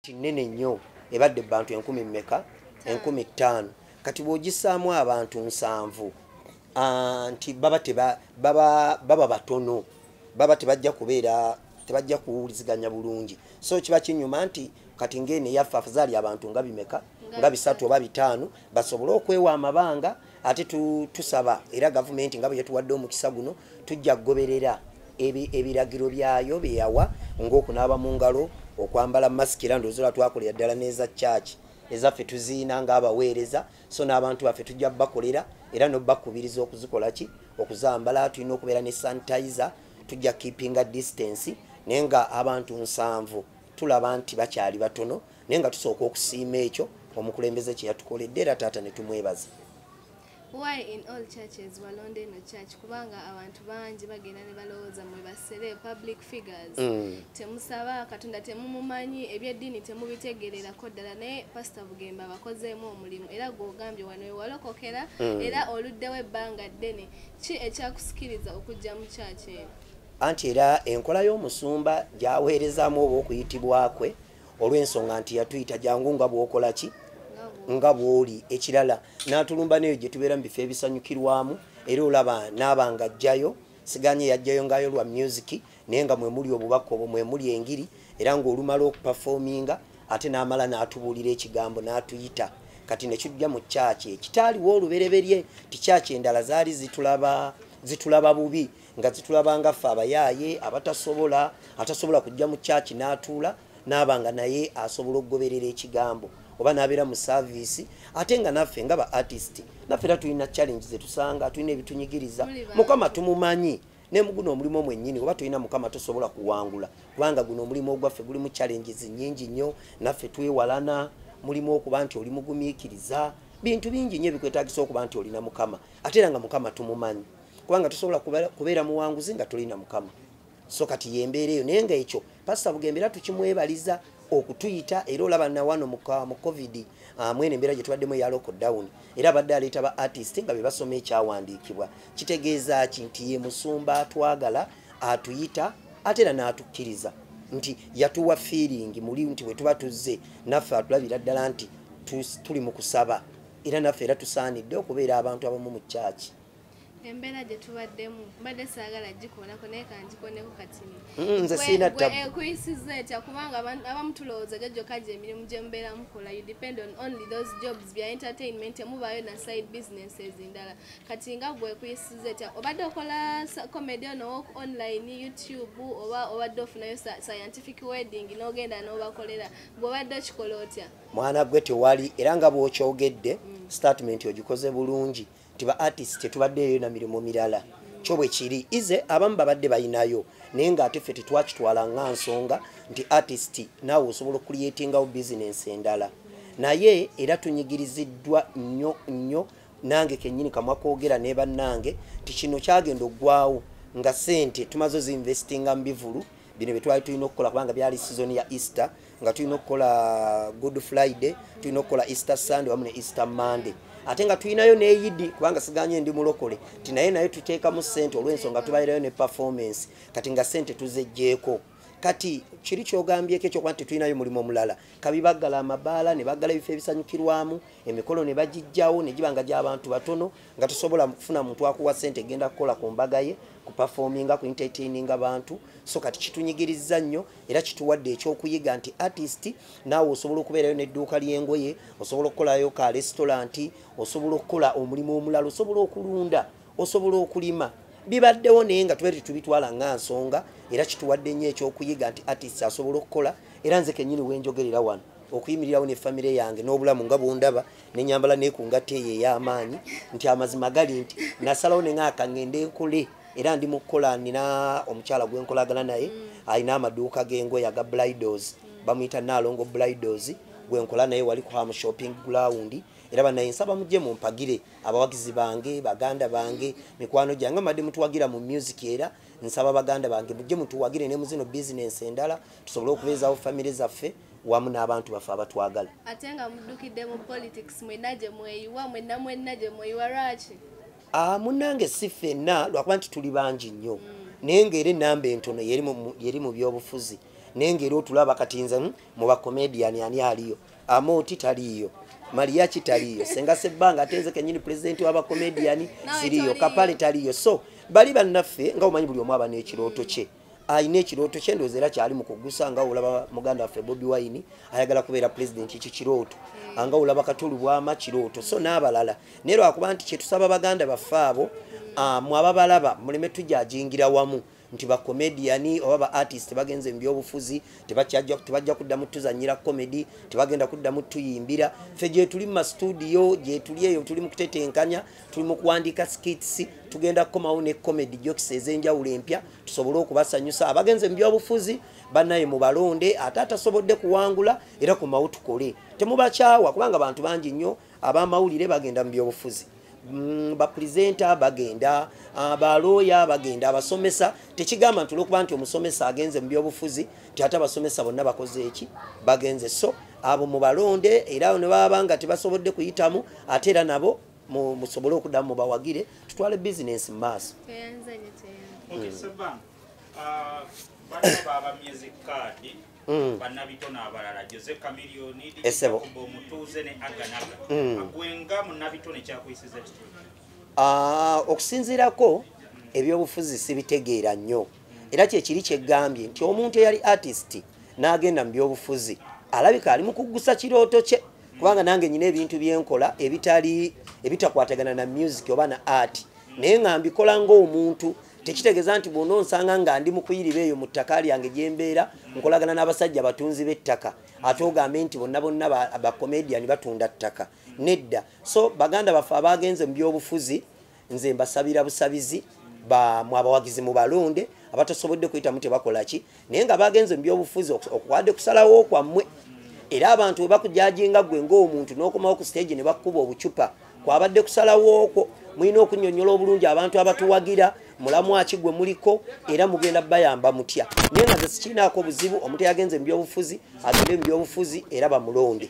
kinene nnyo ebadde bantu enkumi mmeka enkumi ttaano kati bw'ogisaamu abantu nsanvu nti baba baba batono baba tebajja kubeera tebajja kuwuliziganya bulungi so kiba kinyuma nti kati ng'eno eyaffe afazaali abantu nga bimeka nga bisatu oba bitaano basobole okwewa amabanga ate tusaba era gavumenti nga bwe yatuwadde omukisa guno tujja kugoberera ebiragiro byayo byeyawa ngaokunaaba mu ngalo okwambala masiki era ndoozi lwatwakolera ddala n'eza kyaki ezaffe tuziina ngaabaweereza so n'abantu baffe tujja bakolera era nobakubiriza okuzikola ki okuzambala tulina okubeera ne sanitizer tujja keepinga distance naye nga abantu nsanvu tulaba nti bakyali batono naye nga tusooka okusiima ekyo omukulembeze kye yatukoledde era taata ne tumwebaza why in all churches walonda eno church kubanga abantu bangi bagenda ne balowooza mwe basere public figures mm. temusaba katonda temumumanyi ebyeddiini temubitegererako ddala naye pasita bugembe abakozeemu omulimu era gwogambye wano wewalokokera mm. era oluddewo ebbanga ddene ki ekyakusikiriza okujja mu church eno anti era enkola y'omusumba gyaweerezaamu oba okuyitibwa kwe olw'ensonga nti yatuyita jangu nga bwokola ki nga bwoli ekirala n'atulumba neyo gye tubeera mu bifo ebisanyukirwamu era olaba naaba nga ajjayo siganye yajjayo ngayo lwa musiki naye nga mwemuli obubaka obwo mwemuli engiri era ng'olumala okupafominga ate n'amala n'atubuulira ekigambo n'atuyita kati nekijja mu kyaki ekitaaliwo olubereberye ti kyaki endala zaali zitulaba bubi nga zitulabanga ffe abayaaye abatasobola atasobola kujja mu kyaki n'atuula n'aba nga naye asobola okugoberera ekigambo oba n'abeera mu saaviisi ate nga naffe nga ba artist naffe era tulina challenge zetusanga tulina ebitunyigiriza mukama tumumanyi naye muguno omulimu mwennyini oba tulina mukama tosobola kuwangula kubanga guno omulimu ogwaffe gulimu challenges nyingi nnyo naffe twewalana mulimu okuba nti oli mugumiikiriza bintu bingi nnyo ebikwetagisa okuba nti olina mukama ate era nga mukama tumumanyi kubanga tusobola kubeera muwanguzi nga tulina mukama so kati yembeera eyo naye nga ekyo pasita bugembe era tukimwebaliza okutuyita era olaba nawano mu covid ah, mwene embeera gye tubaddemu eya lockdown era abadde aleeta ba artist nga be basoma ekyawandiikibwa kitegeeza ki nti ye musumba atwagala atuyita ate era n'atukkiriza nti yatuwa fiiringi muli nti bwe tuba tuzze naffe atulabira ddala nti tuli mu kusaba era naffe era tusaanidde okubeera abantu abamu mu kyaki embeera gye tubaddemu mbadde saagala gikonako naye kangikoneko katini mm, nze siina tabuekuyisiza eh, etya kubanga abamu tulowooza gyo gyoka gye emirimu gye mubeera mukola you depend on only those jobs bya entertainment temubaayo na side businesses endala kati nga gwekuyisiza etya obadde okola comedy ono wok online youtube oba obadde ofunayo scientific wedding n'ogenda n'obakolera bwobadde okikola otya mwana gwe tewali era nga bwokyogedde mm. statement ogikoze bulungi nti ba artist tetubaddeeyo na mirimu mirala kyo bwe kiri ize abamu babadde balinayo naye ng'ate ffe tetwakitwala nga nsonga nti artist naawe osobola okuliyetingawo bizinensi endala naye era tunyigiriziddwa nnyo nnyo nange kennyini kamwa kwogera ne bannange nti kino kyagenda oggwawo nga sente tumaze oziinvestinga mu bivulu bino bye twali tulina okukola kubanga byali sizoni ya easter nga tulina okukola good friday tulina okukola easter sunday wamu ne easter monday ate nga tulinayo neyidi kubanga siganye ndi mulokole ti naye naye tuteekamu sente olwensonga tubalirayo ne performance kati nga sente tuzejjeeko kati kiri kyogambyeko ekyokuba nti tulinayo mulimu omulala kabi baggala amabaala ne baggala ebifo ebisanyukirwamu emikolo ne bagijjawo ne giba nga gy'abantu batono nga tusobola kufuna muntu akuwa sente egenda kukola ku mbaga ye ku performinga ku entertaininga bantu so kati kitunyigiriza nnyo era kituwadde ekyokuyiga nti artist naawe osobola okubeerayo n'edduuka ly'engoye osobola okukolayo ka lesitolanti osobola okukola omulimu omulala osobola okulunda osobola okulima bibaddewo naye nga tube tetubitwala nga nsonga era kituwadde nnyo ekyokuyiga nti artist asobola okukola era nze kennyini wenjogerera wano okuyimirirawo ne famire yange n'obulamu nga bwondaba nenyambala nekungatta eyo ey'amaanyi nti amazima gali nti nasalawo nenga akangende nkole era ndi mukukola nina omukyala gwenkolagana naye mm. alina amaduuka gengoye aga blidos mm. bamuyita naalongo blidos gwenkola naye wali ku ham shopping ground era banaye nsaba mujje mumpagire abawagizi bange baganda bange mikwano gyange madde mutuwagira mu music era nsaba baganda bange mujje mutuwagire ne muzino bizinensi endala tusobole okubeezawo famire zaffe wamu n'abantu baffe abatwagala ate nga muddukidde mu politics mwena gye mweyiwa mwena mwena gye mweyiwa lwaki Ah, munange si fenna lwakuba nti tuli bangi nnyo naye ngaera enamba entono yeri mu byobufuzi naye ngaera otulaba kati nze hmm, mu bacomedian ani aliyo amooti taliiyo maliyaki taliiyo senga sebbanga ate nze kenyini pulezidenti wabacomedian siriyo kapale taliiyo so bali bannaffe nga omanyi buli omu aba n'ekirooto kye alina ekirooto kye ndowooza era kyali mu kugusa nga olaba muganda waffe bobi wine ayagala kubeera pulezidenti ekyo kirooto hmm. anga olaba katulu bwama kirooto so n'abalala naye lwakuba nti kyetusaba baganda baffe abo ah, mu ababalaba muleme tujajingira wamu nti bakomediyani oba ba artist bagenze mu byobufuzi tebajja kuddamu tuzanyira komedi tebagenda kuddamu tuyimbira ffe gyetuli mu mastudio gyetuli eyo tuli mu kutetenkanya tuli mu kuwandiika skits tugenda kukomawo ne comedy jokes ez'enjawulo empya tusobole okubasanyusa abagenze mu byobufuzi banaye mu balonde ate atasobodde kuwangula era kumawo tukole temubakyawa kubanga bantu bangi nnyo abamawulire bagenda mu byobufuzi mm, bapurezenta bagenda ah, balooya bagenda abasomesa tekigamba nti olwokuba nti omusomesa agenze mu byobufuzi ti ate abasomesa bonna bakoze eki bagenze so abo mu balonde era ne baba nga tebasobodde kuyitamu ate era nabo musobole okudamu mubawagire tutwale bizinensi mumaaso esebo okusinziirako ebyobufuzi sibitegeera nnyo era kyekiri kyegambye nti omuntu eyali artist n'agenda mu byobufuzi alabika ali mu kuggusa kirooto kye kubanga nange nyina ebintu byenkola ebitali ebitakwatagana na music oba na art naye nga mbikola ngaomuntu tekitegeeza nti bwona onsanga nga ndi mukuyiriba eyo mu ttaka lyange gyembeera nkolagana n'abasajja batunzi b'ettaka ate ogambe nti bonna bonna bacomedian batunda ttaka nedda so baganda baffe abaagenze mu byobufuzi nze mbasabira busabizi bamwe abawagizi mubalonde abatasobodde kuyitamu tebakolaki naye nga bagenze mubyobufuzi okuwadde kusalawo kwammwe era abantu webakujajinga gwe ngaomuntu nokomawo ku stage nebakukuba obucupa kwabadde kusalawookwo mulina okunyonyola obulungi abantu abatuwagira mulamu aki gwe muliko era mugenda bayamba mutya naye nga zesikirinaako obuzibu omuntu yagenze mubyobufuzi agende mubyobufuzi era bamulonde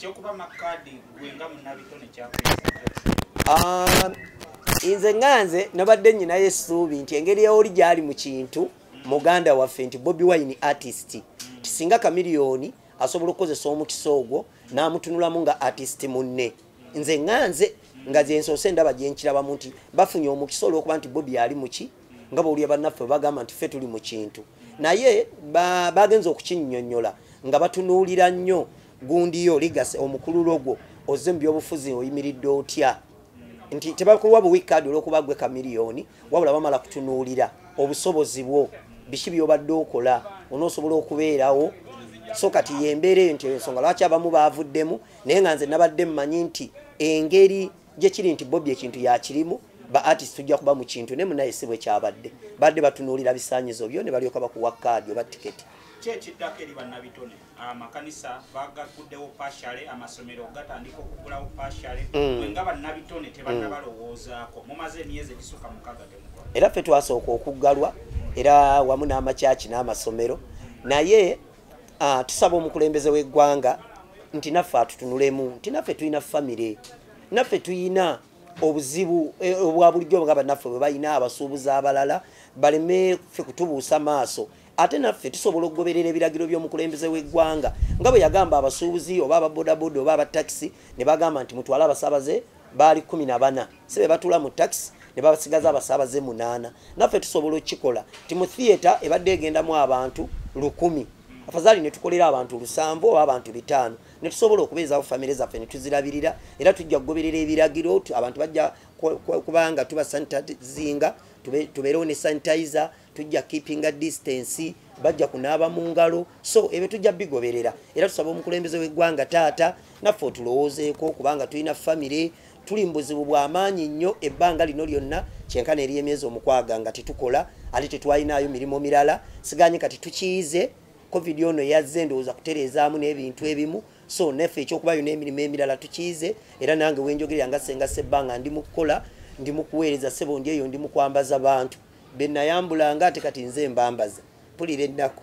Ah, nze nga nze nabadde nyinayo essuubi nti engeri eoli gyali mu kintu muganda waffe nti bobi wine artist tisinga kamiliyoni asobola okukozesa omukisa ogwo n'amutunulamu nga artist munne nze nga nze nga zensoose ndaba gyenkirabamu nti bafunye omukisa olwokuba nti bobi ali muki nga bawulira bannaffe bagamba nti ffe tuli mu kintu naye bagenza okukinyonyola nga batunuulira nnyo gundi yo ligase omukululo gwo ozze mu byobufuzi oyimiridde otya nti tebakuwa buwi kaadi olwokuba gwe kamiliyoni wabula bamala kutunuulira obusobozi bwo biki byobadde okola onoosobola okubeerawo so kati yembeera eyo nti ensonga lwaki abamu baavuddemu naye nga nze nabadde mmanyi nti engeri gye kiri nti bobi ekintu yakirimu ba artist tujja kuba mu kintu naye munaye si bwe kyabadde badde batunuulira bisaanyizo byo ne balyoka bakuwa kaadi oba tiketi kyekiddako eri bannabitone amakanisa ah, bagaguddewo pashale amasomero gatandika okugulawo pashale mm. wenga bannabitone tebanabalowoozaako mm. mumaze emyezi egisuka mukaga temukola era ffe twasooka okuggalwa era wamu n'amakyaki n'amasomero naye ah, tusaba omukulembeze w'eggwanga nti naffe atutunulemu nti naffe tulina famire naffe tulina obuzibu eh, obwa bulijjo nga bannaffe bwe balina abasuubuzi abalala baleme ffe kutubuusa maaso ate naffe tusobola okugoberera ebiragiro by'omukulembeze w'eggwanga nga bwe yagamba abasuubuzi oba ababodaboda oba abatakisi ne bagamba nti mutwale abasaabaze baali kumi na bana si be batula mu takisi ne basigaza abasaabaze munaana naffe tusobola okukikola nti mu thiyeta ebadde egendamu abantu lukumi afazaali ne tukolera abantu lusanvu oba abantu bitaano ne tusobola okubeezawo famire zaffe ne tuzirabirira era tujja kugoberera ebiragiro abantu bajja kubanga tuba sanitazinga tubeerewo ne sanitizer tujja keepinga distance bajja kunaaba mu ngalo so ebyo tujja bigoberera era tusaba omukulembeze w'eggwanga taata naffe otulowoozeeko kubanga tulina famire tuli mu buzibu bw'amaanyi nnyo ebbanga lino lyonna kyenkana eri emyezi omukwaga nga tetukola ate tetwalinaayo mirimu mirala siganye kati tukiyize covid ono yazze ndowooza kutereezaamu n'ebintu ebimu so naffe ekyokubayo n'emirimu emirala tukiyize era nange wenjogerera nga senga sebbanga ndi mu kukola ndi mu kuweereza sebo ndi eyo ndi mu kwambaza bantu benayambulanga ate kati nze mbambaza pulira ennaku